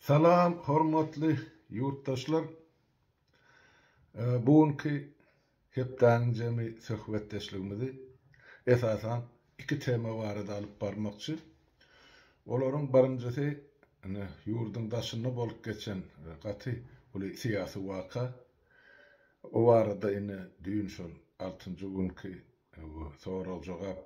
Salam hormatly ýurtdaşlar! Bu günki hepdäniň jemi söhbetdeşligimizi esasan iki tema barada alyp barmakçy. Olaryň birinjisi ine ýurduň daşynda bolup geçen gaty uly syýasy waka. O barada ine düýn şol altynjy günki sorag-jogap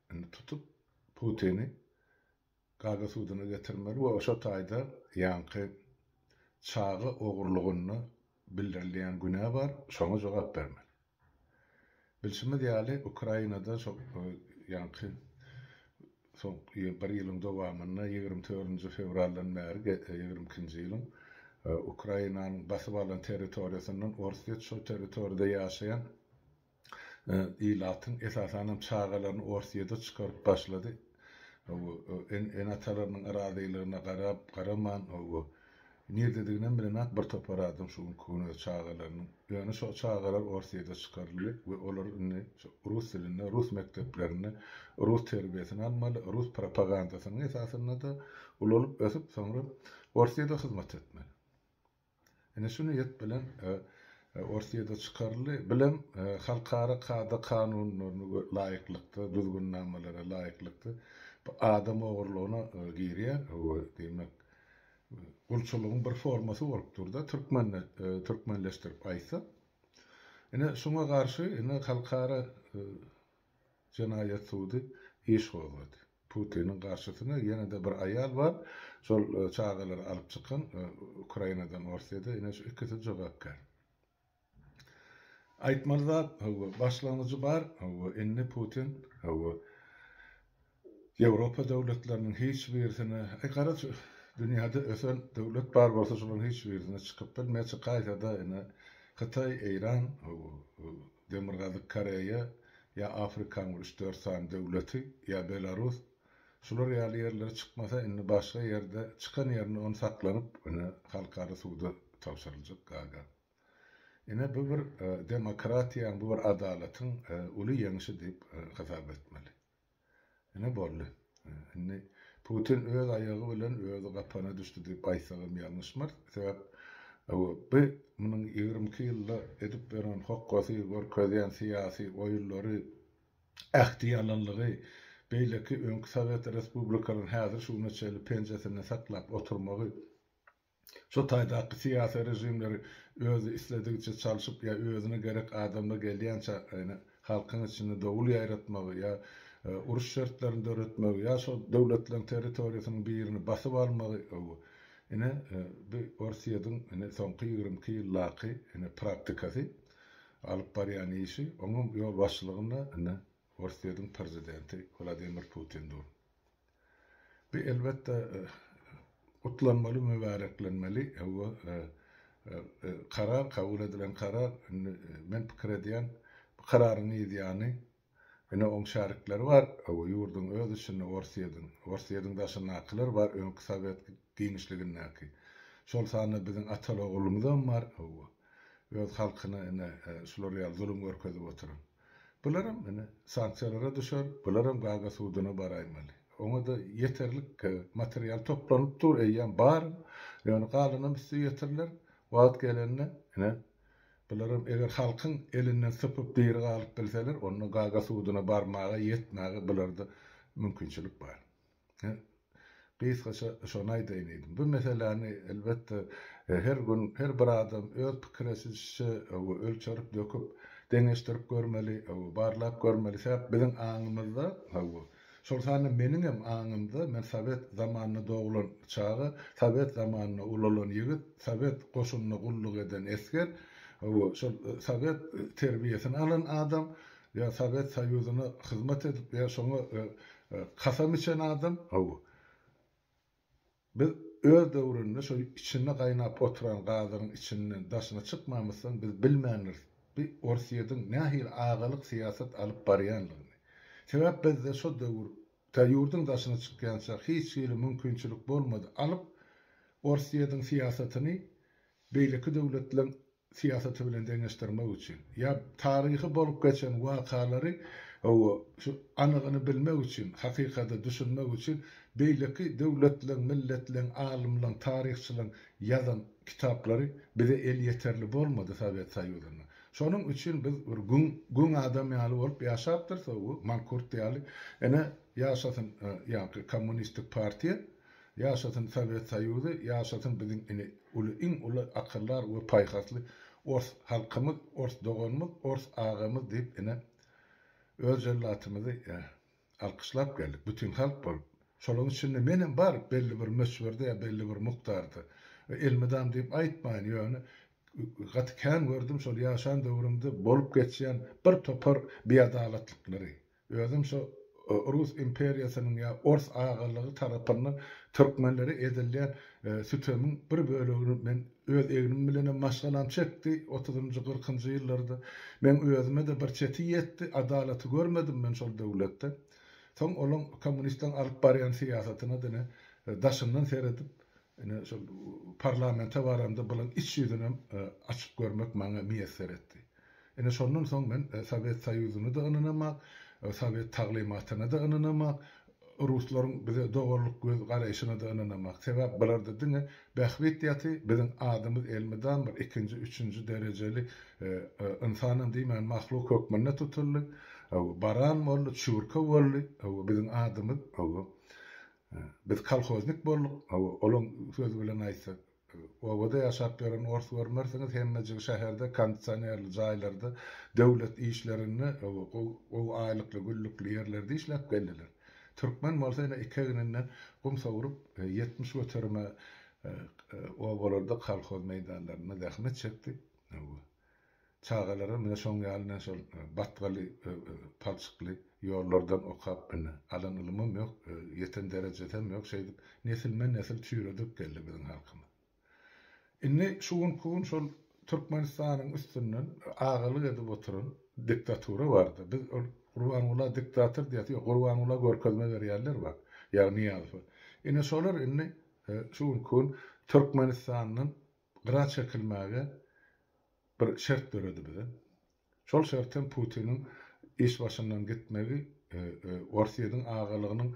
Indi tutup Putini Gaga suduna getirmeli we şo taýda ýaňky çaga ogurlygynda bildirilýän günä bar, şoňa jogap bermeli. Bilşimiz ýaly, Ukrainada şo ýaňky soňky bir ýylyň dowamynda ýigrimi törünji fewraldan bäri ýigrimi ikinji ýylyň Ukrainanyň basyp alan territoriýasyndan orsýet şo territoriýada ýaşaýan ilatyň esasanam çagalaryny Orsyýede çykaryp başlady. Ene-atalarynyň yrazylygyna garap, garaman, nirdediginem bilenak bir topar adam şu günki gün öz çagalarynyň. Ýöne şo çagalar Orsyýede çykaryldy we olar indi şo rus dilinde, rus mekdeplerinde rus terbiýesini almaly, rus propagandasynyň esasynda-da ulalyp-ösüp, soňra Orsyýede hyzmat etmeli. Ine şu niýet bilen Orsýede çykaryldy. Bilen halkara kada-kanunlaryna laýyklykda, düzgünnamalara laýyklykda bu adam ogurlygyna girýär. Bu diýmek gulçulygyň bir formasy bolup dur-da, türkmende, türkmenleşdirip aýtsak. Ine şuňa garşy indi halkara jenaýat sudy iş gozgady. Putiniň garşysyna ýene-de bir aýal bar. Şol çagalary alyp çykan Ukrainadan Orsýede ine şu ikisi jogapkär. Aýtmaly zat, hawa, başlangyjy bar, hawa, indi Putin, hawa, Ýewropa döwletleriniň hiç birisine, aý gara şu dünýäde ösen döwlet bar bolsa şolaryň hiç birisine çykyp bilmeýär, çykaýsa-da ine Hytaý, Eýran, hawa, Demirgazyk Koreýa, ýa Afrikanyň üç-dört sany döwleti, ýa Belarus, şular ýaly ýerlere çykmasa indi başga ýerde çykan ýerinde ony saklanyp ine halkara suda tabşyryljak Gaga. Ine bu bir demokratiýaň bu bir adalatyň uly ýeňşi diýip hasap etmeli. Ine boldy. Indi Putin öz aýagy bilen özi gapana düşdi diýip aýtsagam ýalňyşmarys. Sebäp bu munuň ýigrimi iki ýylda edip ýören hokgasy, görkezýän syýasy oýunlary, ähtiýalanlygy beýleki öňki sowet respublikalaryny häzir şu güne çenli penjesinde saklap oturmagy Şu taýdaky syýasy režimleri özi isledigiçe çalşyp ýa özüne gerek adamlar gelýänçä halkyň içinde dowul ýaýratmagy ýa uruş şertlerini döretmegi ýa şol döwletleriň territoriýasynyň birini basyp almagy bu ine bu Orsýediň ine soňky ýigrimi iki ýyldaky ine praktikasy alyp barýan işi oňuň ýolbaşçylygynda ine Orsýediň prezidenti Wladimir Putin dur. Bu elbetde gutlanmaly, mübäreklenmeli. Hawa, karar, kabul edilen karar. Indi men pikir edýän, bu kararyň ýazýany ine oň şärikleri bar. Hawa, ýurduň öz içinde Orsýediň, Orsýediň daşyndakylar bar, öňki sowet giňişligindäki. Şol sanda biziň ataly-ogullymyzam bar. Hawa, öz halkyna ine şular ýaly zulum görkezip oturan. Bularam ine, sanksiýalara düşer, bularam Gaga suduna baraýmaly. Oňa-da ýeterlik material toplanyp dur, eýýäm bar, ýöne galanam üsti ýetiriler. Wagt gelende, ine, bularam eger halkyň elinden sypyp diri galyp bilseler, onda Gaga suduna barmaga, ýetmäge bularda mümkinçilik bar. Gysgaça şony aýdaýyn diýdim. Bu meseläni, elbetde, her gün her bir adam öz pikireçilişiçe ölçerip döküp, deňeşdirip görmeli, barlap görmeli. Sebäp biziň aňymyzda, şol sanda meniňem aňymda, men sowet zamanynda doglan çaga, sowet zamanynda ulalan ýigit, sowet goşunynda gulluk eden esger, şol sowet terbiýesini alan adam, Ýa Sowet Soýuzyna hyzmat edip, ýa şoňa kasam içen adam. Hawa. Biz öz döwründe şo içinde gaýnap oturan gazyň içinden daşyna çykmamyzsoň biz bilmändiris bi Orsýediň nähili agalyk syýasat alyp barýanlygyny. Sebäp bizde şo döwür tä ýurduň daşyna çykýança hiç hili mümkinçilik bolmady alyp Orsýediň syýasatyny beýleki döwletleň syýasaty bilen deňeşdirmek üçin, ýa taryhy bolup geçen wakalary hawa, şu anygyny bilmek üçin, hakykata düşünmek üçin beýleki döwletleň, milletleň, alymlaň, taryhçylaň ýazan kitaplary bize elýeterli bolmady Sowet Soýuzynda. Şonuň üçin biz bir güň, güň adam ýaly bolup ýaşapdyrys, hawa, mankurt ýaly. Ine, ýaşasyn ýaňky kommunistik partiýa! Ýaşasyn Sowet Soýuzy ýaşasyn biziň ini uly iň uly akyldar we paýhasly ors halkymyz ors doganymyz ors agamyz diýip ine öz jellatymyzy alkyşlap geldik bütin halk bolup şolaň içinde menem bar belli bir möçberde ýa belli bir mukdarda elmydam diýip aýtmaýyn ýöne gaty kän gördüm şol ýaşan döwrümde bolup geçýän bir topar biadalatlyklary Özüm şu Rus imperiýasynyň ýa Ors agalygy tarapyndan türkmenlere edilýän sütemiň bir bölegini men öz egnim bilenem maşgalam çekdi otuzynjy gyrkynjy ýyllarda. Meň özüme-de bir çeti ýetdi. Adalaty görmedim men şol döwletde. Soň olaň kommunistleň alyp barýan syýasatyna diňe daşyndan seredip Ine, şol parlamente baramda bulaň iç ýüzünem açyp görmek maňa miýesser etdi. Ine, şondan soň men Sowet Soýuzyna-da ynanamok, sowet taglymatyna-da ynanamok, ruslaryň bize doganlyk göz garaýşyna-da ynanamok. Sebäp bularda diňe bähbit ýaty, biziň adymyz elmydam bir ikinji, üçünji derejeli ynsanam diýmän mahluk hökmünde tutuldy. Baran boldy, çüwürke boldy. Biziň adymyz Biz kolhoznik bolduk, hawa, olaň sözi bilen aýtsak, obada ýaşap ýören ors görmersiňiz, hemmejigi şäherde kondisionerli jaýlarda, döwlet işlerinde, hawa, gowy aýlykly, güllükli ýerlerde işläp geldiler. Türkmen bolsa ine iki egninden gum sowrup, ýetmiş göterime obalarda, kolhoz meýdanlarynda zähmet çekdi. Hawa. Çagalara mine şoň ýalyna şol batgaly palçykly ýollardan okap mine alan ylymym ýok ýeten derejesem ýok şeýdip nesilme nesil çüýredip geldi biziň halkymyz. Indi şu günki gün şol Türkmenistanyň üstünden agalyk edip oturan diktatura barda biz ol Gurbangula diktator diýesi ýok Gurbangula görkezme berýärler bak ýagny Nyýazowa ine şolar indi şu günki gün Türkmenistandan gyra çekilmäge bir şert döredi bize. Şol şert hem Putiniň iş başyndan gitmegi, Orsýetiň agalygynyň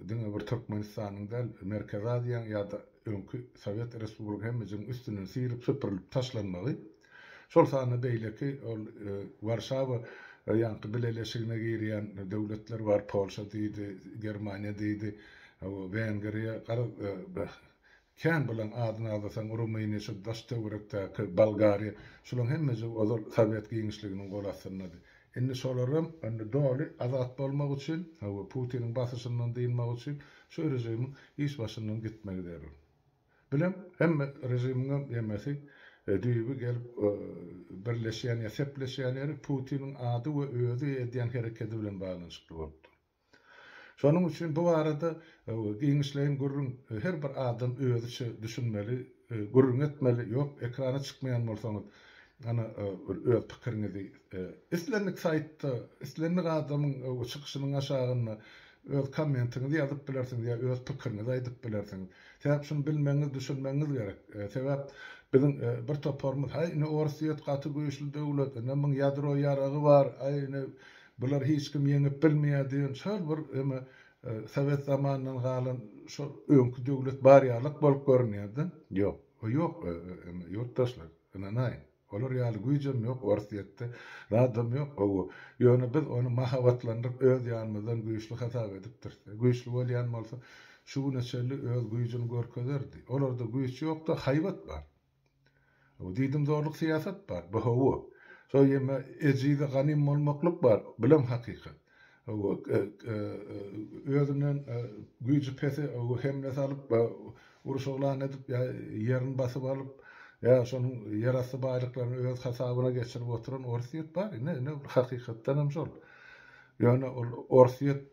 diňe bir Türkmenistanyň däl, Merkezi Aziýaň ýa-da öňki Sowet Respublika hemmejigiň üstünden syryp-süpürilip taşlanmagy, şol sanda beýleki ol Warşawa ýaňky bileleşigine girýän döwletler bar, Polşa diýdi, Germaniýa diýdi, Wengriýa, garaz, Kän bolan adyny agzasaň Rumyniýa şu daş-töwerekdäki Bolgariýa şulaň hemmejigi ozal Sowet giňişliginiň gol astyndady. Indi şolaram indi doly azat bolmak üçin we Putiniň basyşyndan dynmak üçin şu režimiň iş başyndan gitmegi zerur. Bilem hemme režimiňem ýemesi düýbi gelip birleşýän ýa sepleşýän ýeri Putiniň ady we özi edýän herekedi bilen baglanyşykly bolup dur. Şonuň üçin bu barada giňişleýin gürrüň her bir adam özüçe düşünmeli, gürrüň etmeli, ýok ekrana çykmaýan bolsaňyz ana bir öz pikiriňizi islendik saýtda, islendik adamyň çykyşynyň aşagynda öz kommentiňizi ýazyp bilersiňiz ýa öz pikiriňizi aýdyp bilersiňiz. Sebäp şuny bilmegiňiz, düşünmegiňiz gerek. Sebäp biziň bir toparymyz haý ine Orsýet gaty güýçli döwlet, ine muň ýadro ýaragy bar, aý ine Bulary hiç kim ýeňip bilmeýär diýen şol bir eme sowet zamanyndan galan şol öňki döwlet bar ýalyk bolup görünýärde. Ýok. O ýok eme ýurtdaşlar. Ynanaýyň. Olar ýaly güýjem ýok Orsýetde. Zadam ýok. Hawa. Ýöne biz ony mahabatlandyryp öz ýanymyzdan güýçli hasap edipdiris. Güýçli bolýan bolsa şu güne çenli öz güýjüni görkezerdi. Olarda güýç ýokda haýbat bar. Bu diýdimzorluk syýasat bar. Bu hawa. Şol ýeme ejize ganym bolmaklyk bar. Bulam hakykat. Hawa, özünden güýji pese hemle salyp, uruş yglan edip ýa ýerini basyp alyp, ýa şonuň ýerasty baýlyklaryny öz hasabyna geçirip oturan Orsýet bar. Ine, ine, hakykatdanam şol. Ýöne ol Orsýet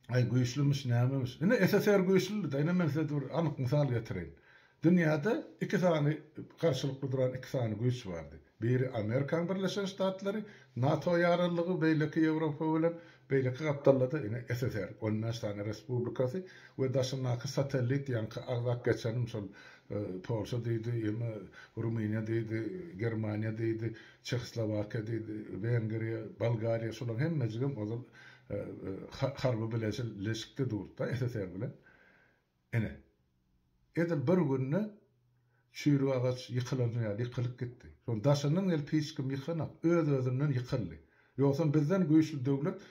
Aý güýçlümiş nämemiş. Ine SSR güýçlüdi-de, ine men size bir anyk mysal getireýin. Dünýäde iki sany garşylykly duran iki sany güýç bardy. Biri Amerikan Birleşen Ştatlary, NATO ýaraglylygy, beýleki Ýewropa bilen, beýleki gapdalda-da ine SSR, on bäş sany respublikasy we daşyndaky satellit ýaňky agzap geçenim şol Polşa diýdi, ýa-da Rumyniýa diýdi, Germaniýa diýdi, Çehoslowakiýa diýdi, Wengriýa, Bolgariýa şolaryň hemmejigem ozal harby bileleşikde durdy-da SSR bilen. Ine, edil bir günde çüýrük agaç ýykylansoň ýaly ýykylyp gitdi. Şonuň daşyndan gelip hiç kim ýykanok. Öz-özünden ýykyldy. Ýogsam bizden güýçli döwlet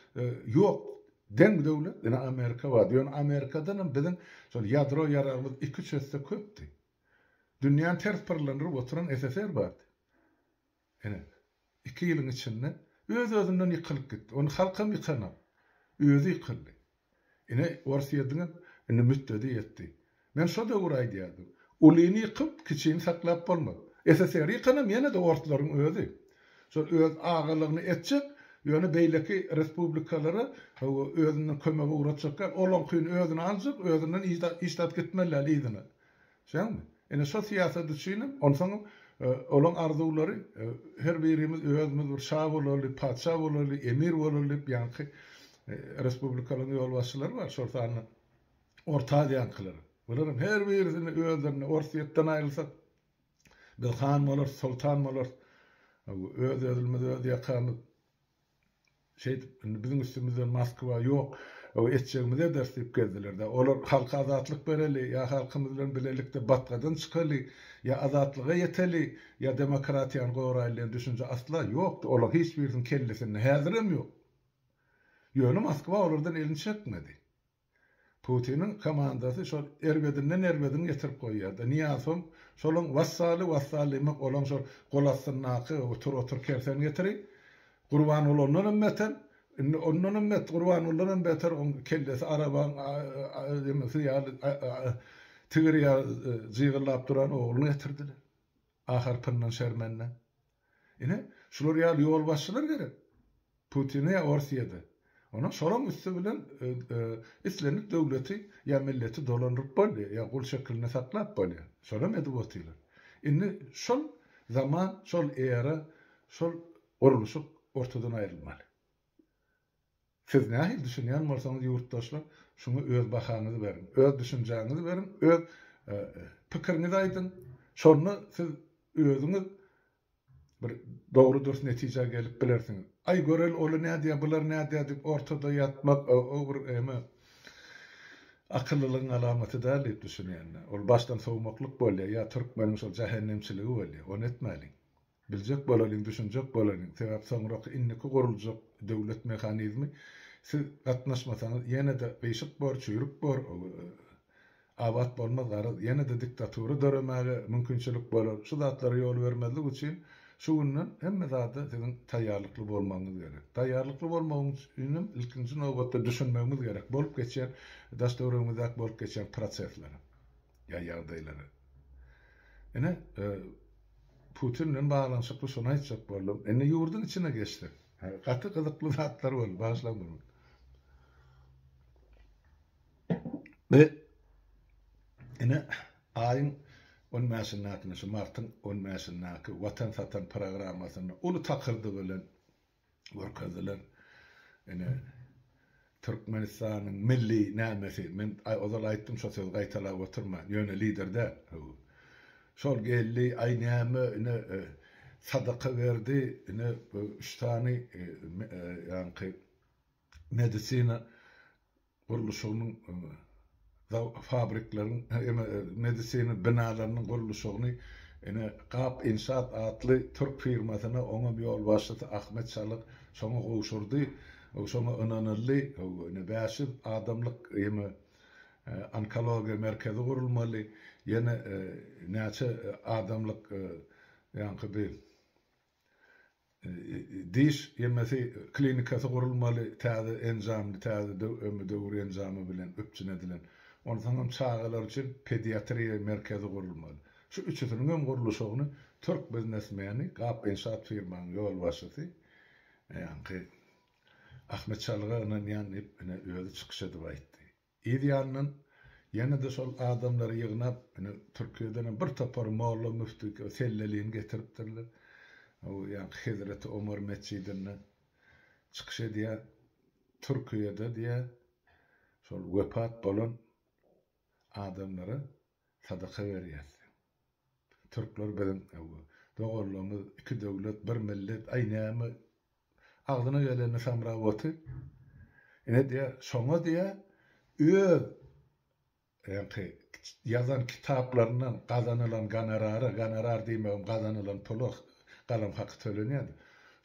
ýok. Deň döwlet ine Amerika bardy. Ýöne Amerikadanam biziň şol ýadro ýaragymyz iki-üç esse köpdi. Dünýäni ters pyrlandyryp oturan SSR bardy. Ine, iki ýylyň içinde öz-özünden ýykylyp gitdi. Ony halkam ýykanok. Özi ýykyldy. Ine, Orsýetiňem indi mütdedi ýetdi. Men şo döwür aýdýardym. Ulyny ýykyp, kiçini saklap bolmaz. SSR-i ýykanam ýene-de orslaryň özi. Şol öz agalygyny etjek, ýöne beýleki respublikalara hawa, özünden kömege ugratjak däl. Olaňkyny özüne aljak, özünden iş tap gitmeli däl yzyna. Şeňňämi? Ine şo syýasat üçinem, onsoňam olaň arzuwlary her birimiz özümiz bir şa bolaly, patyşa bolaly, emir bolaly diýip ýaňky respublikalaryň ýolbaşçylary bar, şol sanda Orta Aziýaňkylar. Bularam her birisini özlerine Orsýetden aýrylsak, biz han bolarys, soltan bolarys, öz-özlimizi öz ýakamyz Şeýdip, indi biziň üstümizden Moskwa ýok, o etjegimizi ederis diýip gezdiler-dä. Olar halka azatlyk bereli, ýa halkymyz bilen bilelikde batgadan çykaly, ýa azatlyga ýeteli, ýa demokratiýany goraýly diýen düşünje asla ýokdy, olaryň hiç birisiniň kellesinde häzirem ýok. Ýöne Moskwa olardan elini çekmedi. Putiniň komandasy şol erbedinden erbedini getirip goýýarda. Niýasow şolaň wassaly wassal diýmek olaň şol gol astyndaky otur otur kerseni getiri. Gurbanguly ondan hem beter. Indi ondan hem bet Gurbangulydan hem beter oň kellesi arabaň ýaly tigir ýaly jygyllap duran ogluny getirdiler. ahyrkyndan şermende. Ine, şular ýaly ýolbaşçylar gerek. Putine ýa Orsýede. Onam şolaň üsti bilen islendik döwleti ýa milleti dolandyryp bolýar, ýa gul şeklinde saklap bolýar. Şolam edip otyrlar. Indi şol zaman, şol era, şol gurluşyk ortadan aýrylmaly. Siz nähili düşünýän bolsaňyz ýurtdaşlar şuňa öz bahaňyzy beriň, öz düşünjäňizi beriň, öz pikiriňizi aýdyň, şonda siz özüňiz bir dogry dürs netijä gelip bilersiňiz. Aý göreli oly nädýä bular nädýä diýip ortada ýatmak o bir eme akyllylygyň alamaty däl diýip düşünýän. Ol başdan sowmaklyk bolýa ýa türkmeniň şol jähennemçiligi bolýa. Ony etmäliň. Biljek bolalyň, düşünjek bolalyň, sebäp soňraky indiki guruljak döwlet mehanizmi siz gatnaşmasaňyz ýene-de gyşyk bor, çüýrük bor, abat bolmaz garaz, ýene-de diktatura döremäge mümkinçilik bolar, şu zatlara ýol bermezlik üçin şu günden hemme zada siziň taýýarlykly bolmagyňyz gerek. Taýýarlykly bolmagyň üçin hem ilkinji nobatda düşünmegimiz gerek bolup geçýän, daş-töweregimizdäki bolup geçýän proseslere. ýa ýagdaýlary. Ine, Putin bilen baglanyşykly şony aýtjak boldum. Indi ýurduň içine geçsek. Gaty gyzykly zatlar boldy, bagyşlaň bir gün. Bi ine aýyň on bäşindäki, şu martyň on bäşindäki Watan satan programmasynda uly takyrdy bilen görkezdiler. Ine, Türkmenistanyň milli nämesi, men ozal aýtdym, şo sözi gaýtalap oturman, ýöne lider däl, hüwü. Şol geldi, aý näme, ine, sadaka berdi, ine, üç sany, ýaňky, medisina gurluşygynyň fabrikleriň medisina binalarynyň gurluşygyny ine Gap Inşaat atly türk firmasyna oňam ýolbaşçysy Ahmet Çalyk şoňa gowşurdy. Şoňa ynanyldy. Ine bäş ýüz adamlyk ime onkologiýa merkezi gurulmaly. Ýene näçe adamlyk ýaňky bi Diş ýemesi klinikasy gurulmaly, täze enjamly, täze döwür enjamy bilen üpjün edilen. Onsoň hem çagalar üçin pediatriýa merkezi gurulmaly. Şu üçüsiniň hem gurluşygyny türk biznesmeni, Gap-Inşaat firmanyň ýolbaşçysy ýaňky Ahmet Çalyga ynanýan diýip, ine, özi çykyş edip aýtdy. Yz ýandan ýene-de şol adamlary ýygnap, indi Türkiýedenem bir topar molla müfti sellelini getiripdirler. Bu ýaňky Hezreti Omar metjidinde çykyş edýär. Türkiýede diýýär, şol wepat bolan adamlara sadaka berýäs. Türkler biziň doganlygymyz iki döwlet bir millet aý näme agzyna geleni samra oty ine diýä şoňa diýä öz ýaňky ýazan kitaplaryndan gazanylan gonorary gonorar diýmegem gazanylan pula galam haky tölenýär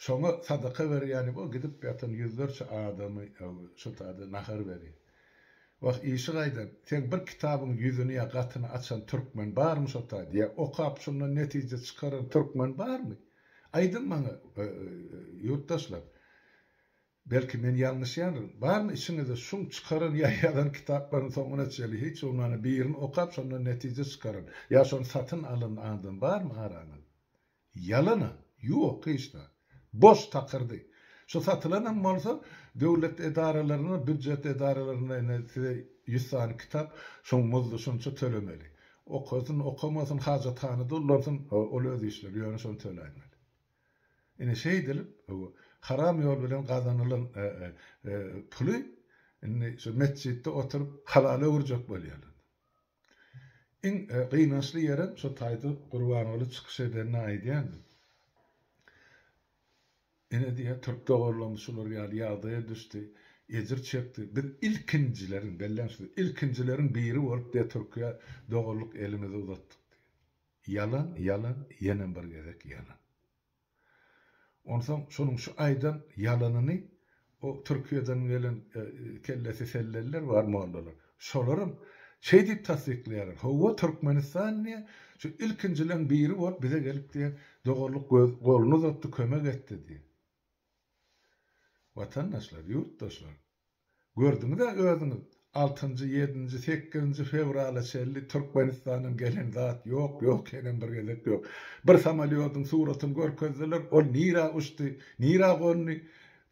şoňa sadaka berýäni bu gidip ýatan ýüzlerçe adamy şu taýda nahar berýär. Wah, işi gaýdan, seň bir kitabyň ýüzüni ýa gatyny açan türkmen barmy şo taýda? Ýa okap şundan netije çykaran türkmen barmy? Aýdyň maňa, ýurtdaşlar. Belki men ýalňyşýandyryn. Barmy içiňizde şuň çykaran ýa ýazan kitaplarynyň soňuna çenli hiç bolmanda birini okap şondan netije çykaran ýa şony satyn alan adam barmy araňyzda? Ýalana, ýok hiç zat. Boş takyrdy. Şu satylanam bolsa, döwlet edaralaryna, býujet edaralaryna ine size ýüz sany kitap, şoň muzdy şunça tölemeli. Okasyn, okamasyn, hajathanada ullansyn, ol öz işleri, ýöne şony töläýmeli. Ine şeýdilip, haram ýol bilen gazanylan puly indi şu metjitde oturyp halala öwürjek bolýarlar. Iň gynançly ýerem şo taýda Gurbanguly çykyş edende aýdýardy. Ine diýýär, türk doganlarymyz şular ýaly ýagdaýa düşdi, ejir çekdi. Biz ilkinjileriň, belläň şu sözi, ilkinjileriň biri bolup diýýär Türkiýä doganlyk elimizi uzatdyk diýýär. Ýalan, ýalan, ýene bir gezek ýalan. Onsoň şonuň şu aýdan ýalanyny o Türkiýeden gelen kellesi selleliler bar mollalar. Şolaram şeý diýip tassyklaýarlar, Hawa, Türkmenistan diýýär, şu ilkinjileň biri bolup bize gelip diýýär, doganlyk goluny uzatdy, kömek etdi diýýär. Watandaşlar, ýurtdaşlar, gördüňiz-ä özüňiz, altynjy, ýedinji, sekizinji fewrala çenli Türkmenistandan gelen zat ýok, ýok, henem bir gezek ýok. Bir samolýodyň suratyny görkezdiler, ol nirä uçdy, nirä gondy,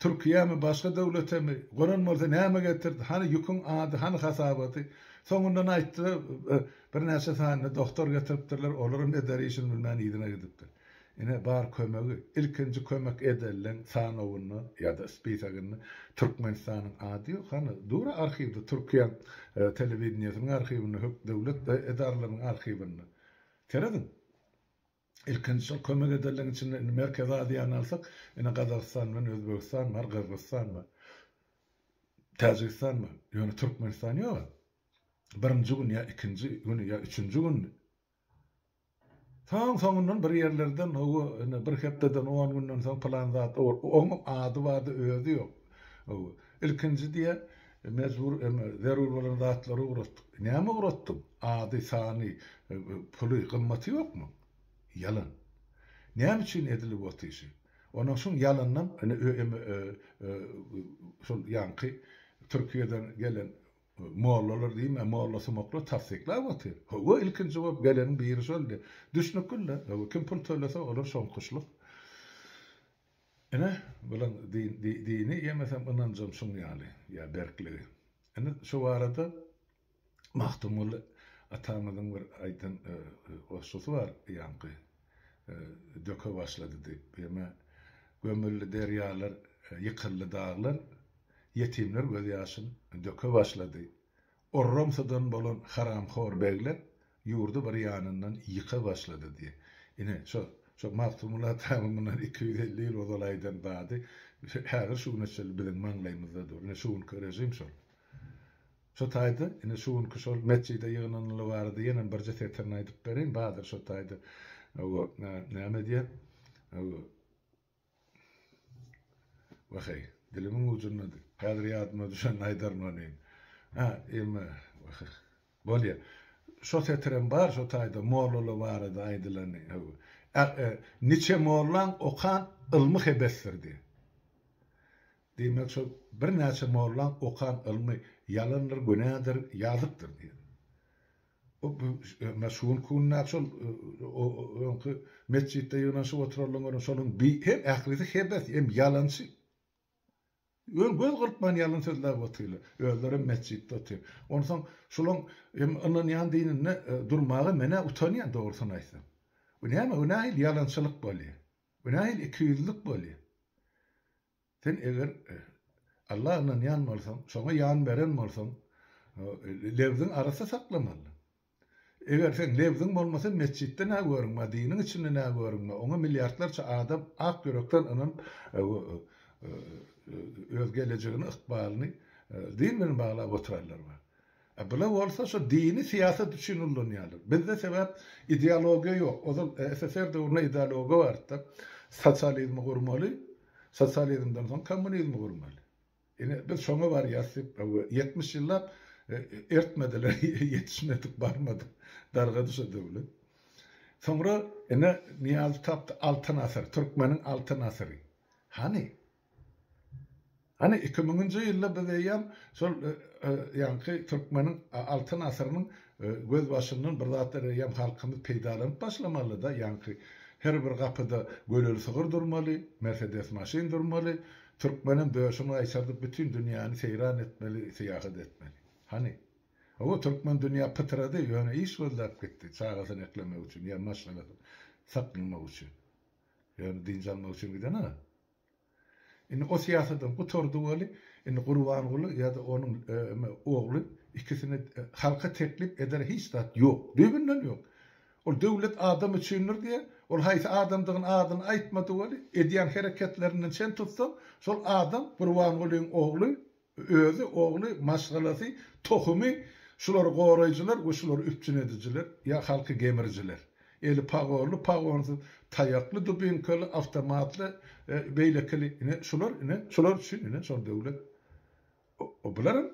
Türkiýämi, başga döwletemi, gonan bolsa näme getirdi, hany ýüküň ady, hany hasabaty? Soňundan aýtdylar, birnäçe sanyny doktor getiripdirler, olaram eder işini bilmän yzyna gidipdir. Ine, bar kömegi. Ilkinji kömek edelleriň sanawynda ýa-da spisagynda Türkmenistanyň ady ýok. Hany, dur arhiwde, Türkiýe telewideniýesiniň arhiwinde, hök döwlet edaralarynyň arhiwinde. Serediň. Ilkinji şol kömek edelleriň içinde, indi Merkezi Aziýany alsak, ine, Gazagystan bilen Özbegistan bar, Gyrgyzystan bar, Täjigistan bar. Ýöne Türkmenistan ýog-a. Birinji gün ýa ikinji güni ýa üçünji gündi. Soň soňundan bir ýerlerden hawa ine bir hepdeden on günden soň pylan zat oň ady bardy özi ýok. Hawa. Ilkinji diýýär mejbur eme zerur bolan zatlary ugratdyk. Näme ugratdyň? Ady, sany, puly, gymmaty ýokmy? Ýalan. Näme üçin edilip ot işi? Onuň şuň ýalanynam ine eme şol ýaňky Türkiýeden gelen Mollalar diýme, molla sumaklar tassyklap otyr. Hawa, ilkinji bolup geleniň biri şoldy. Düşnükli-le. Hawa, kim pul tölese, olar şoňkuşlyk. Ine, bulaň dini ýemesem ynanjam şuň ýaly, ýa berkligi. Ine, şu barada Magtymguly atamyzyň bir aýdan goşgusy bar ýaňky. döke başlady depgeme gömüldi derýalar ýykyldy daglar ýetimler göz ýaşyn döke başlady orramsadan bolan haramhor begler ýurdy bir ýanyndan ýyka başlady diýe ine şo şo magtymguly atanyň mundan iki ýüz elli ýyl ozal aýdan zady häzir şu güne çenli biziň maňlaýymyzda dur ine şu günki režim şol. Şo taýda, ine, şu günki şol metjide ýygnanyly barada ýenem birje setirini aýdyp bereýin, badyr şo taýda, owo, näme diýýär, owo, waheý, dilimiň ujundady, häzir ýadyma düşende aýdaryn onyn. Hä, emma, waheý, bolýa, şo setirem bar şo taýda mollalar barada aýdylany, owo, Niçe mollaň okan ylmy hebesdir diýýär. Diýmek şol birnäçe mollaň okan ylmy ýalandyr, günädir, ýazykdyr diýen. Bu me şugun kundäki şol o öňki metjitde ýygnanyşyp oturanlaň görüň şoluň bi hem ählisi hebes, hem ýalançy. Ýöne göz gyrpman ýalan sözläp otyrlar. Özlerem metjitde otyr. Onsoň şolaň hem ynanýan dininde durmaga men-ä utanýan dogrusyny aýtsam. Bu näme, bu nähili ýalançylyk bolýar? Bu nähili ikiýüzlülik bolýar? Sen eger Alla ynanýan bolsaň, şoňa ýan beren bolsaň, lebziň arassa saklamaly. Eger seň lebziň bolmasa, metjitde nä görünme, diniň içinde nä görünme, oňa milliardlarça adam ak ýürekden ynanyp, öz gelejegini, ykbalyny din bilen baglap oturanlar bar. A bular bolsa şu dini syýasat üçin ullanýarlar. Bizde sebäp ideologiýa ýok. Ozal SSR döwründe ideologiýa bardy-da. Sosializmi gurmaly, sosializmden soň kommunizmi gurmaly. Ine biz şoňa barýarys diýip ýetmiş ýyllap ertmediler, ýetişmedik, barmadyk. Dargady şu döwlet. Soňra ine Nyýazow tapdy Altyn asyr, türkmeniň altyn asyry. Hany? Hany iki müňünji ýylda biz eýýäm şol ýaňky türkmeniň altyn asyrynyň gözbaşyndan bir zatlar eýýäm halkymyz peýdalanyp başlamalyda, ýaňky her bir gapyda göleli sygyr durmaly, mersedes maşyn durmaly, türkmenem döşüni gaýtardyp bütin dünýäni seýran etmeli, syýahat etmeli. Hany. Hawa türkmen dünýä pytrady, ýöne iş gözläp gitdi, çagasyny eklemek üçin ýa maşgalasyny saklamak üçin. Ýöne dynç almak üçin giden-a. Indi o syýasadam gutardy weli, indi Gurbanguly ýa-da onuň ogly ikisini halka teklip eder hiç zat ýok, düýbünden ýok. Ol döwlet adam üçindir diýýär, ol haýsy adamdygyny adyny aýtmady weli, edýän hereketlerinden çen tutsaň, şol adam Gurbangulyň ogly Özi, ogly, maşgalasy, tohumy şulary goraýjylar we şulary üpjün edijiler ýa halky gemirijiler. Eli pagonly, pagonsyz, taýakly, dubinkaly, awtomatly, beýlekili, ine, şular, ine, şular üçin, ine, şol döwlet. Bularam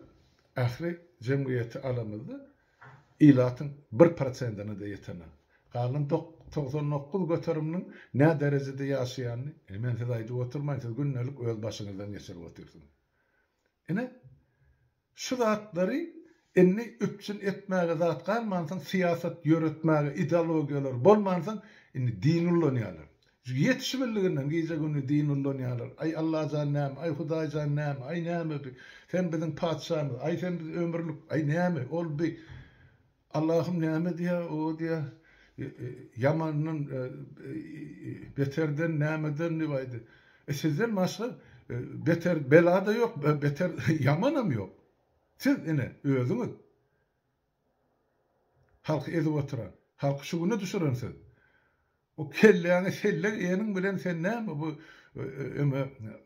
ähli jemgyýeti alamyzda, ilatyň bir prosentine-de ýetenok. Galan togsan dokuz göteriminiň nä derejede ýaşaýanyny ine men size aýdyp oturmaýyn, siz gündelik öz başyňyzdan geçirip otyrsyňyz. Ine, şu zatlary indi üpjün etmäge zat galmansoň, syýasat ýöretmäge ideologiýalary bolmansoň, indi dini ulanýarlar. Ýetişibildiginden gije-gündiz din ullanýarlar. Aý, Allajan näme? Aý, Hudaýjan näme? Aý, näme bi? Sen biziň patyşamyz. Aý, sen biz ömürlik. Aý, näme? Ol bi? Allahym näme diýýä? O diýýä, Ýamandan, beterden, nämeden diýip aýdy. E, sizden başga beter bela-da ýok, beter ýamanam ýok. Siz, ine, özüňiz halky ezip oturan, halky şu güne düşüren siz. Bu kelläňi sellek eniň bilen sen näme bu öňe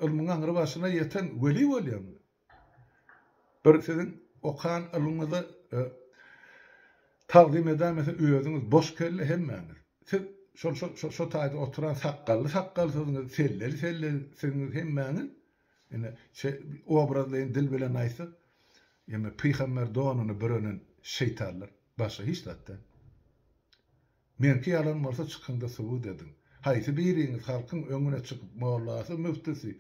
ylmyň aňry başyna ýeten weli bolýaňmy? Bir siziň okan ylmyňyza tagzym edäýmese özüňiz boş kelle hemmäňiz. Siz şol şo şo taýda oturan sakgally sakgalsyzyňyz, selleli sellesiňiz hemmäňiz. Ine şe obrazlaýyn dil bilen aýtsak ýeme pygamber donuny bürenen şeýtanlar başga hiç zat däl. Meňki ýalan bolsa çykyňda subut ediň. Haýsy biriňiz halkyň öňüne çykyp mollasy müftüsi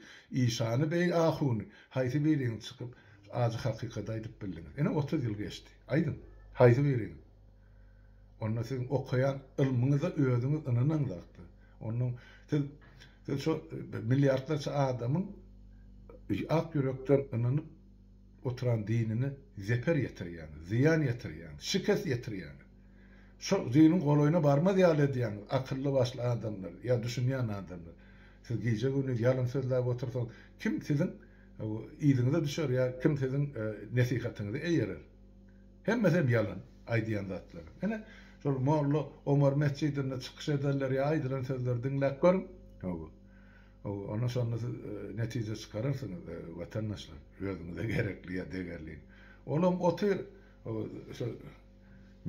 işany beý ahuny haýsy biriňiz çykyp ajy hakykady aýdyp bildiňiz. Ine otuz ýyl geçdi. Aýdyň. Haýsy biriňiz. Onda siziň okaýan ylmyňyza özüňiz ynanan zatda. Ondan siz siz şo milliardlarça adamyň ak ýürekden ynanyp oturan dinine zeper ýetirýäňiz, zyýan ýetirýäňiz, şikes ýetirýäňiz. Şol düýnüň golaýyna barmaz ýaly edýäňiz, akylly başly adamlar, ýa düşünýän adamlar. Siz gije gündiz ýalyn sözläp otursaňyz, kim siziň yzyňyza düşer ýa kim siziň nesihatyňyzy eýerer? Hemmesem ýalan, aýdýan zatlaryň. Ine, şol Molla Omar metjidinde çykyş edenleri ýa aýdylan sözleri diňläp görüň. Hawa. Hawa, onda şonda siz netije çykararsyňyz, watandaşlar, özüňize gerekli ýa degerliň. Olam otyr, hawa, şol.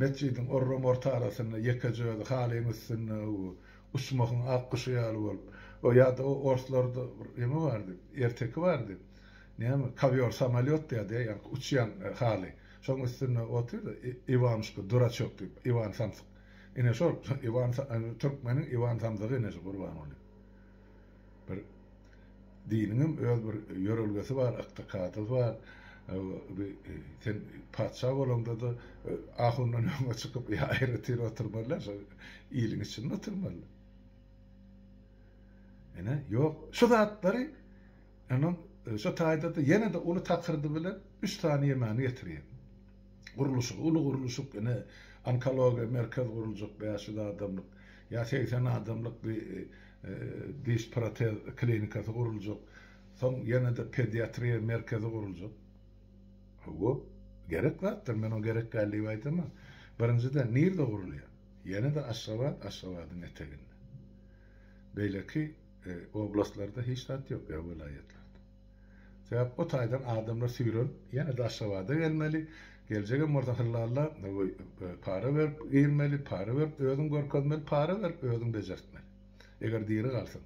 Metjidiň orruň orta arasynda ýekeje özi halyň üstünde bu uçmahyň ak guşy ýaly bolup, o ýa-da o orslarda bir eme bardy, erteki bardy, näme, kowýor samolýot diýýärdi-ä, ýaňky uçýan haly. Şoň üstünde otyr-da, Iwanuşka, duraçok diýip, Iwan samsyk. Ine şol, türkmeniň Iwan samsygy ine şu Gurbangully. Bir diniňem öz bir ýörelgesi bar, ykdykadysy bar. Bi sen patyşa bolaňda-da ahundan öňe çykyp aýratyn oturmaly-a, şo iliň içinde oturmaly. Ine, ýok, şu zatlary onuň şu taýda-da ýene-de uly takyrdy bilen üç sany ýemany getirýär. Gurluşygy, uly gurluşyk, ine, onkologiýa merkez guruljak, bäş ýüz adamlyk, ýa segsen adamlyk bi, diş-protez klinikasy guruljak, soň ýene-de pediatriýa merkezi guruljak. Hawa, gerek zatdyr, men oňa gerek däl diýip aýdamok. Birinjiden, nirede gurulýar? Ýene-de Aşgabat, Aşgabadyň eteginde. Beýleki oblastlarda hiç zat ýok, ýa welaýatlarda. Sebäp o taýdan adamlar süýrenip ýene-de Aşgabada gelmeli, geljegem bolsa hyllalla para berip girmeli, para berip özüň görkezmeli, para berip özüň bejertmeli. Eger diri galsaň.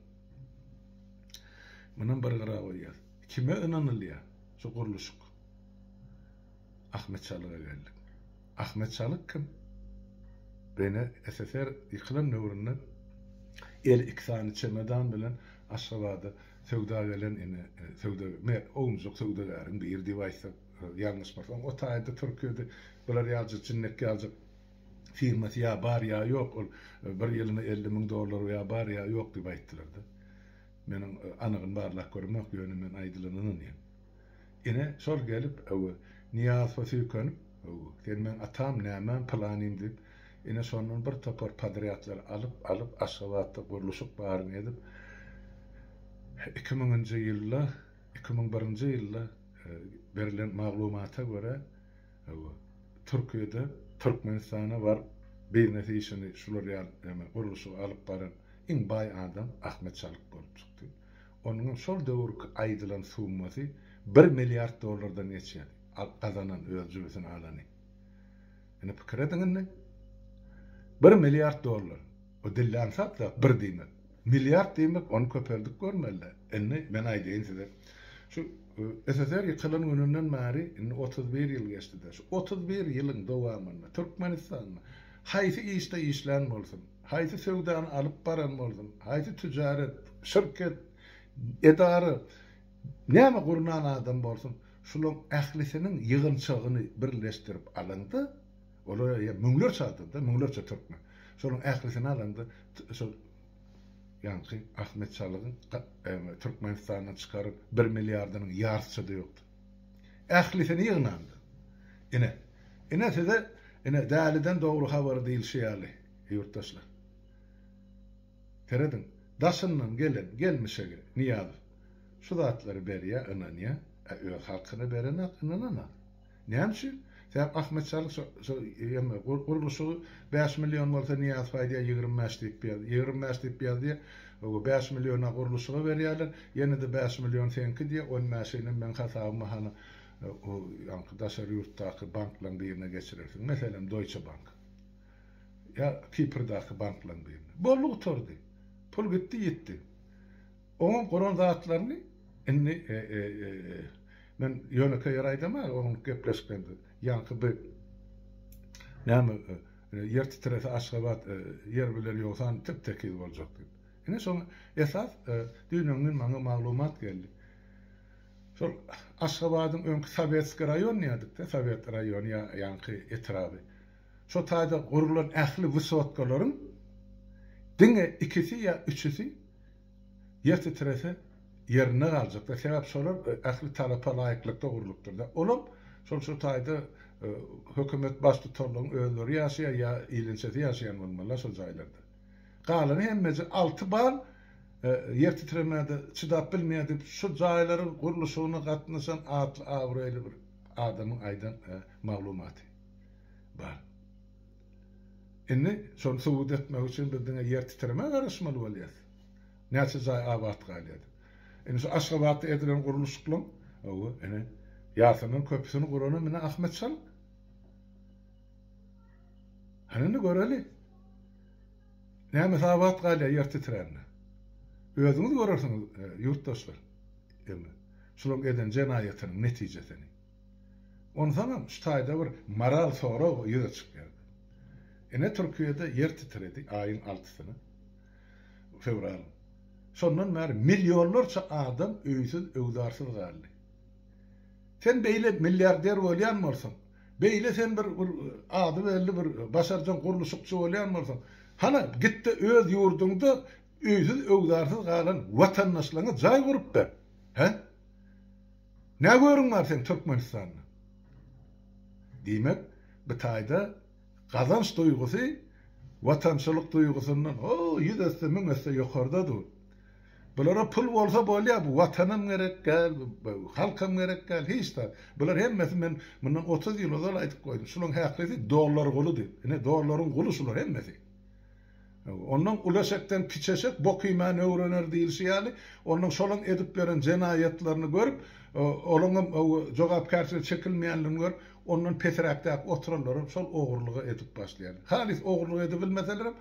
Munam bir gyra goýýas. Kime ynanylýar? Şu gurluşyk. Ahmet Çalyga geldik. Ahmet Çalyk kim? Bene SSR ýykylan döwründe eli iki sany çemedan bilen Aşgabada Söwda gelen ine söwda me ownujak söwdagäriň biri diýip aýtsak ýalňyşmasam o taýda türkiýede bular ýaljak jinnek ýaljak firmasy ýa bar ýa ýok ol bir ýylyna elli müň dollar ýa bar ýa ýok diýip aýtdylarda meniň anygyny barlap göremok ýöne men aýdylana ynanýan ine şol gelip ow nyýazowa söýkenip ow sen meň atam nämäm pylanym diýip Ine şondan bir topar podrýadlary alyp, alyp Aşgabatda gurluşyk baryny edip, iki müňünji ýylda, iki müň birinji ýylda berilen maglumata görä, Türkiýede, Türkmenistana baryp biznes işini şular ýaly, ýagny gurluşygy alyp baran iň baý adam Ahmet Çalyk bolup çykdy. Onuň hem şol döwürki aýdylan summasy bir milliard dollardan geçýärdi, gazanan, öz jübüsine alany. Indi pikir ediň indi. Bir milliard dollar. O dillän sap zat bir diýmek. Milliard diýmek ony köpeldip görmeli-dä. Indi men aýdaýyn size. Şu SSR ýykylan gününden bäri indi otuz bir ýyl geçdi-de. Şu otuz bir ýylyň dowamynda Türkmenistanda haýsy işde işlän bolsun, haýsy söwdany alyp baran bolsun, haýsy tüjaret, şirket, edara näme gurnan adam bolsun, Şularyň ählisiniň ýygyntygyny birleşdirip alaňda, olar eýýäm müňlerçe adam-da, müňlerçe türkmen. Şolaryň ählisini alaňda, şol ýaňky Ahmet Çalygyň Türkmenistandan çykaryp bir milliardynyň ýartyça-da ýokdur. Ählisini ýygnaňda. Ine, ine size, ine, däliden dogry habar diýlişi ýaly, ýurtdaşlar. Serediň, daşyndan gelen gelmişege Nyýazow şu zatlary berýär, ynanýar, a öz halkyna berenak, ynananak. Näme üçin? Sebäp Ahmet Çalyk şo, şo ýa-da gurluşygy bäş million bolsa Nyýazow aýdýar ýigrimi bäş diýip ýaz, ýigrimi bäş diýip ýaz diýýär, oga bäş milliona gurluşyga berýärler, ýene-de bäş million seňki diýýär, on bäşinem meň hasabyma hany o ýaňky daşary ýurtdaky banklaň birine geçirersiň, meselem Doýçe bank. ýa Kiprdaky banklaryň birine. Boldy gutardy. Pul gitdi ýitdi. Oňuň guran zatlaryny indi men ýönekeý ýer aýdamaga onuň gepleşiklerinde ýaňky bir näme ýer titrese Aşgabat ýer biler ýogsan tep tekiz boljak diýip. Ine şoň esas düýn-öň gün maňa maglumat geldi. Şol Aşgabadyň öňki Sowetskiý raýon diýerdik-de Sowet raýony ýa ýaňky etraby. Şo taýda gurlan ähli wysotgalaryň diňe ikisi ýa üçüsi ýer titrese ýerinde galjakdyr. Sebäp şolar ähli talapa laýyklykda gurlupdyr-da. Olam şol şo taýda hökümet baştutanlaryň özleri ýaşaýan ýa ilinçesi ýaşaýan bolmaly-la şo jaýlarda. Galany hemmeje alty bal ýer titremede çydap bilmeýär diýip şo jaýlaryň gurluşygyna gatnaşan atly-abraýly bir adamyň aýdan maglumaty. bar. Indi şony subut etmek üçin biz diňe ýer titremä garaşmaly bolýas. Näçe jaý abat galýar. Indi şu Aşgabatda edilen gurluşyklaň, hawa, ene, Ýasaman köpüsini guranam ine Ahmet Şal. Hany indi göreli. Nämesi abat galýar ýer titrände. Özüňiz görersiňiz, ýurtdaşlar. Indi şularyň eden jenaýatynyň netijesini. Onsoňam şu taýda bir moral sorag ýüze çykýardy. Ine Türkiýede ýer titredi aýyň altysyny, fewralyň. Şondan bäri millionlarça adam öýsüz, öwzarsyz galdy. Sen beýle milliarder bolýan bolsaň, beýle sen bir bir ady belli bir başarjaň gurluşykçy bolýan bolsaň, hana gitde öz ýurduňda öýsüz, öwzarsyz galan watandaşlaryňa jaý gurup ber. Hä? Nä görüň bar seň Türkmenistanda? Diýmek, bu taýda gazanç duýgusy watançylyk duýgusyndan ho, ýüz esse, müň esse ýokarda dur. Bulara pul bolsa bolýar, bu watanam gerek däl, bu halkam gerek däl, hiç zat. Bular hemmesi men mundan otuz ýyl ozal aýdyp goýdum, şularyň häkisi dollar guly diýip. Ine, dollaryň guly şular hemmesi. Onnoň ul eşekden kiçi eşek bok iýmän öwrener diýlişi ýaly, onnoň şolaň edip beren jenaýatlaryny görüp, olaňam jogapkärçilige çekilmeýänlerini görüp, ondan pesiräkdäki oturanlaram şol ogurlygy edip başlaýarlar. Halys ogurlyk edibilmeselerem,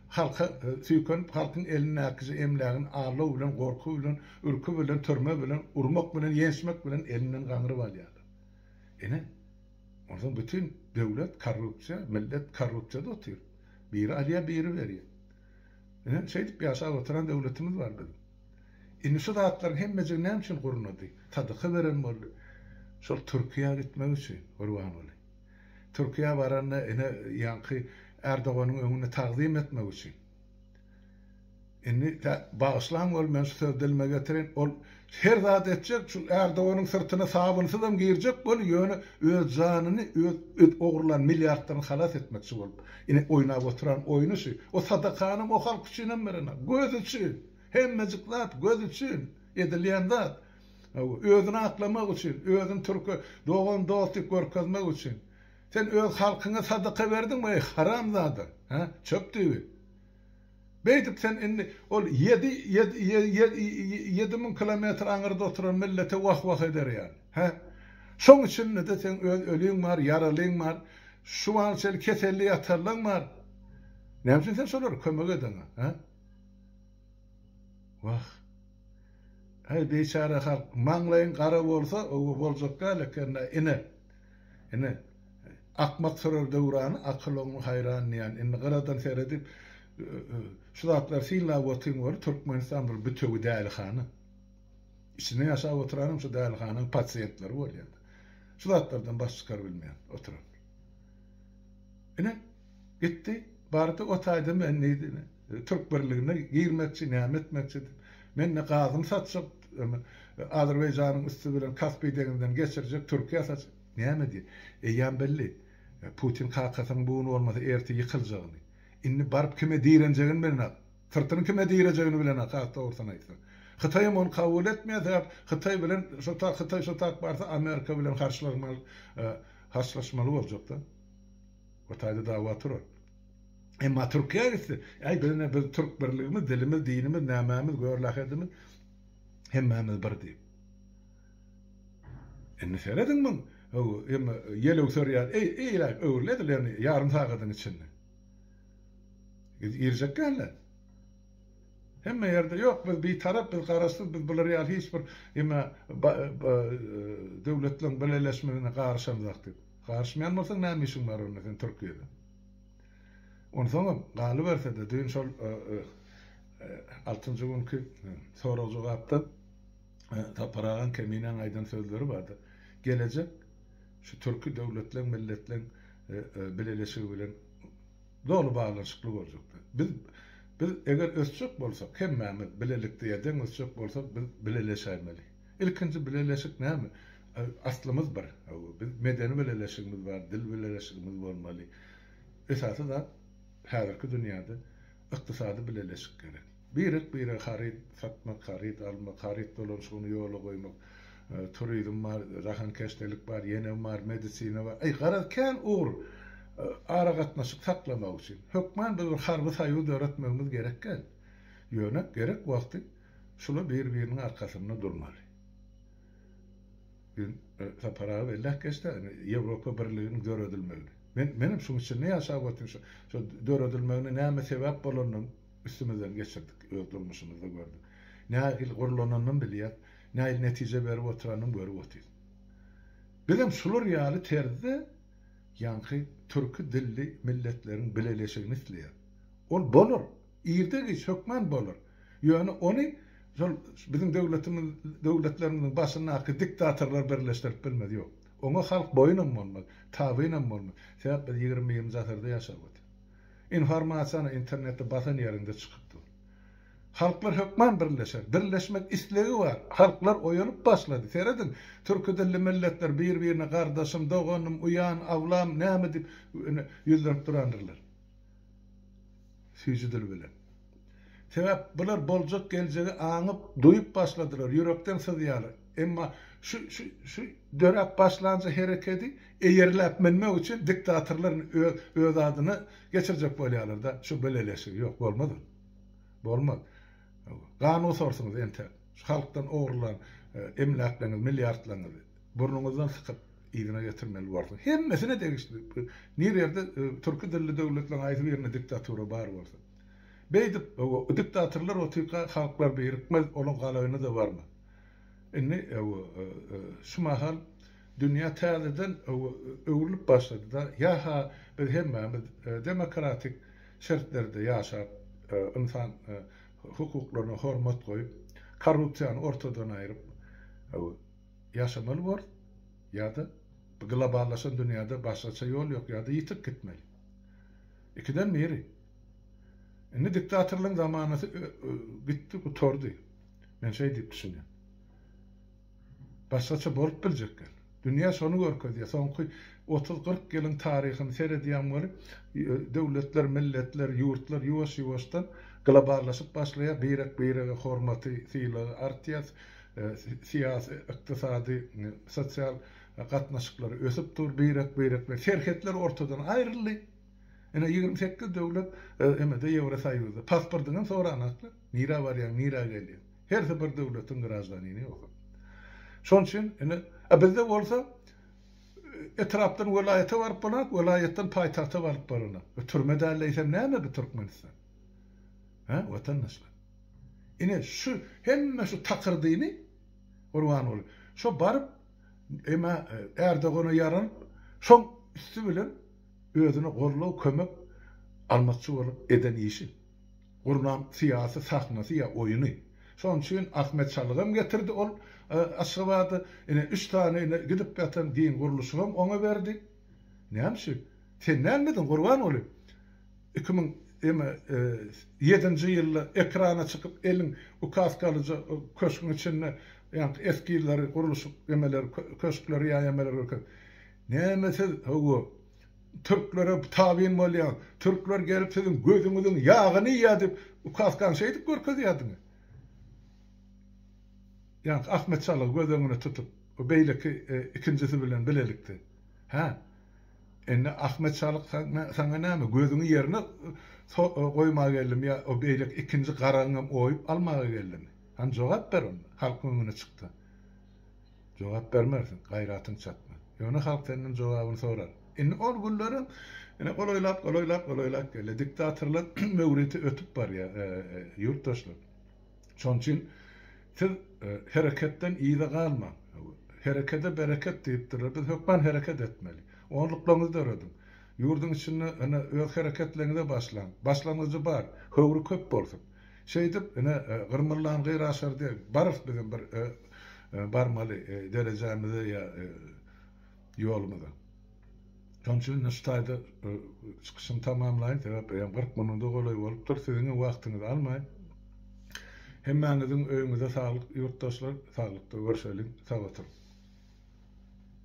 halka süýkenip, halkyň elindäkije emlägini aldaw bilen, gorky bilen, ürki bilen, türme bilen, urmak bilen, ýençmek bilen elinden gaňryp alýarlar. Ine. Onsoň bütin döwlet korrupsiýa, millet korrupsiýada otyr. Biri alýar, biri berýär. Ine, şeýdip ýaşap oturan döwletimiz bar biziň. Indi şu zatlaryň hemmejigi näme üçin gurnady? Sadaka beren boldy. Şol Türkiýä gitmek üçin, Gurbanguly. Türkiýä baranda ine, ýaňky Erdoganyň öňünde tagzym etmek üçin. Indi bagyşlaň ol men şu sözi dilime getirin ol her zat etjek şu ärdoganyň syrtyna sabynsuzam girjek bolup ýöne öz janyny öz ogurlan milliardlaryny halas etmekçi bolup indi oýnap oturan oýny şu o sadakanam o halk üçinem berenok göz üçin hemmejik zat göz üçin edilýän zat özüni aklamak üçin özüni türke dogan dost diýip görkezmek üçin sen öz halkyňa sadaka berdiňmi eý haramzada he çöp düýbi. Beýdip sen indi ol ýedi ýedi müň kilometr aňyrda oturan millete wah wah eder ýaly. Hä? Şoň içinde-de seň öz öliň bar, ýaralyň bar, şu wagta çenli keselli ýatanlaň bar. Näme üçin sen şolara kömek edeňa? Hä? Wah. Äý biçäre halk, maňlaýyň gara bolsa, oba boljak däl eken-dä, ine. Ine. Akmak sorar döwrany akyl oňly haýran diýýän. Indi gyradan seredip şu zatlary synlap otyň weli Türkmenistan bir bütewi dälihana. Içinde ýaşap oturanam şu dälihananyň pasiýentleri bolýar. Şu zatlardan baş çykar bilmeýän oturan. Ine gitdi bardy o taýda men diýdi Türk birligine girmekçi näme etmekçi diýip. Mende gazymy satjak Azerbaýjanyň üsti bilen Kaspiý deňzinden geçirjek Türkiýä satjak. Näme diý? Eýýäm belli. Putin kakasynyň bu gün bolmasa ertir ýykyljagyny. Indi baryp kime direnjegini bilenok. Syrtyny kime direjegini bilenok has dogrusyny aýtsaň. Hytaýam ony kabul etmeýär sebäp Hytaý bilen şo ta Hytaý şo taýyp barsa Amerika bilen harçlaşmaly harçlaşmaly boljakda. O taýda dawa turar. Emma Türkiýä gitse, äý biz ine biz türk birligimiz, dilimiz, dinimiz, nämämiz, görlähedimiz hemmämiz bir diýip. Indi serediň muň emma ýelewser ýaly eýläk öwrül edil ýöne ýarym sagadyň içinde. Biz girjek dälde. Hemme ýerde ýok biz bitarap biz garaşsyz biz bular ýaly hiç bir emä döwletleriň bileleşmegine garyşamzak diýip. Garyşmaýan bolsaň näme işiň bar onda sen Türkiýede. Onsoňam galybersede düýn şol altynjy günki sorag jogapda Sapar agaň Keminäň aýdan sözleri bardyr. Gelejek şu türki döwletleň, milletleň bileleşigi bilen doly baglanyşykly boljakdy. Biz biz eger ösjek bolsak, hemmämiz bilelikde ýa-deň ösjek bolsak, biz bileleşäýmeli. Ilkinji bileleşik näme? Aslymyz bir. Hawa, biz medeni bileleşigimiz bar, dil bileleşigimiz bolmaly. Esasy zat häzirki dünýäde ykdysady bileleşik gerek. Birek-birege haryt satmak, haryt almak, haryt dolanyşygyny ýola goýmak, turizm bar, rahankeşdelik bar, ýene bar, medisina bar. Aý, garaz, kän ugur aragatnaşyk saklamak üçin. Hökman biz bir harby soýuz döretmegimiz gerek däl. Ýöne gerek wagty şular bir-biriniň arkasynda durmaly. Biz Sapar aga belläp geçdi-ä, indi Ýewropa Birliginiň döredilmegini. Men, menem şuň içinde ýaşap otyryn, şo döredilmegine näme sebäp bolandygyny, Üstümizden geçirdik, öz durmuşymyzda gördük. Nähili gurlananyny bilýäs, nähili netije berip oturanyny görüp otyrys. Bizem şular ýaly terzde ýaňky türki dilli milletleriň bileleşigini isleýäs. Ol bolar, irde-giç hökman bolar. Ýöne ony şol biziň döwletimiz, döwletlerimiziň başyndaky diktatorlar birleşdirip bilmez, ýok. Oňa halk boýun hem bolmaz, tabyn hem bolmaz. Sebäp biz ýigrimi birinji asyrda ýaşap otyrys. Informasiýany internetde basan ýeriňde çykyp dur. Halklar hökman birleşer. Birleşmek islegi bar. Halklar oýanyp başlady. Serediň, türki dilli milletler bir-birine gardaşym, doganym, uýan, awlam, näme diýip ýüzlenip durandyrlar. Süýji dil bilen. Sebäp bular boljak geljegi aňyp, duýup başladylar, ýürekden syzýarlar. Emma şu, şu, şu döräp başlanja herekedi eýerläp münmek üçin diktatorlar öz adyna geçirjek bolýarlar-da şu bileleşigi. Ýok, bolmaz ol. Bolmaz. Gan gusarsynz entäk. Şu halkdan ogrulan emläkleriňizi, milliardlaryňyzy burnuňyzdan sykyp, yzyna getirmeli borsuň. Hemmesine degişli. Nir ýerde türki dilli döwletleriň haýsy birinde diktatura bar bolsa. Beýdip, diktatorlar otyrka halklar birikmez, olaň galaýyny-da barmy? Indi şu mahal dünýä täzeden öwrülip başlady-da, ýa-ha biz hemmämiz demokratik şertlerde ýaşap, ynsan hukuklaryna hormat goýup, korrupsiýany ortadan aýryp ýaşamaly borus, ýa-da globallaşan dünýäde başgaça ýol ýok, ýa-da ýitip gitmeli. Ikiden biri. Indi diktatorlygyň zamanasy gitdi, gutardy. Men şeý diýip düşünýän. Başgaça bolup biljek gel. Dünýä şony görkezýär. Soňky otuz-kyrk ýylyň taryhyny seredýäň weli, döwletler, milletler, ýurtlar ýuwaş-ýuwaşdan globallaşyp başlaýar, birek-birege hormaty, sylagy artýar, syýasy, ykdysady, sosial gatnaşyklar ösüp dur, birek-birek bilen serhetler ortadan aýryldy. Ine ýigrimi sekiz döwlet emede ýewrosoýuzda pasportyňam soranoklar nirä barýaň nirä gelýäň hersi bir döwletiň graždanini ýogsam şoň üçin ine a bizde bolsa etrapdan welaýata baryp bolanok welaýatdan paýtagta baryp bolanok bu türme däl eýsem näme bu türkmenistan he watandaşlar ine şu hemme şu takyrdyny gurban boluň şo baryp emä ärdogana ýaralyp şoň üsti bilen özüni goldaw kömek almazçy bolup eden işi, gurnan syýasy sahnasy ýa oýuny. Şonuň üçin Ahmet Çalygam getirdi ol Aşgabada, ine üç sany ine gidip ýatan giň gurluşygam oňa berdi. Näme üçin? Sen nädmediň Gurbanguly? Iki müň eme ýedinji ýylda ekrana çykyp eliň ukazkalyja köşgüň içinde ýaňky eskizleri gurluşyk emeleri köşkleri ýa emeleri görkezip. Näme siz, hawa, türklere tabyn bolýaňyz, türkler gelip siziň gözüňiziň ýagyny iýýär diýip, ukaskan şeýdip görkezýärdiňiz. Ýaňky Ahmet Şalygy göz öňüne tutup, beýleki ikinjisi bilen bilelikde. Hä? Indi Ahmet Şalyk saňa näme, gözüňi ýerine goýmaga geldimi ýa o beýleki ikinji garagyňam oýup almaga geldimi? Hany jogap ber onda, halkyň öňüne çyk-da. Jogap bermersiň, gaýratyň çatmaz. Ýöne halk senden jogabyny sorar. Indi ol günleriň ine golaýlap, golaýlap, golaýlap gelýär. Diktatorlaryň möwriti ötüp barýar, ýurtdaşlar. Şonuň üçin siz hereketden yza galmaň. Herekede bereket diýipdirler. Biz hökman hereket etmeli. Onluklaryňyzy dörediň. Ýurduň içinde ine öz hereketleriňize başlaň. Başlangyjy bar. Höwri köp bolsun. Şeýdip, ine, gyrmyrlan gyr aşar diýip, barys bizem bir barmaly derejämize ýa ýolumyza. Şonuň üçin indi şu taýda çykyşymy tamamlaýyn, sebäp eýýäm kyrk minuda golaý bolupdyr. Siziň hem wagtyňyzy almaýyn. Hemmäňiziň öýüňize saglyk, ýurtdaşlar, saglykda görşeliň, sag oturyň!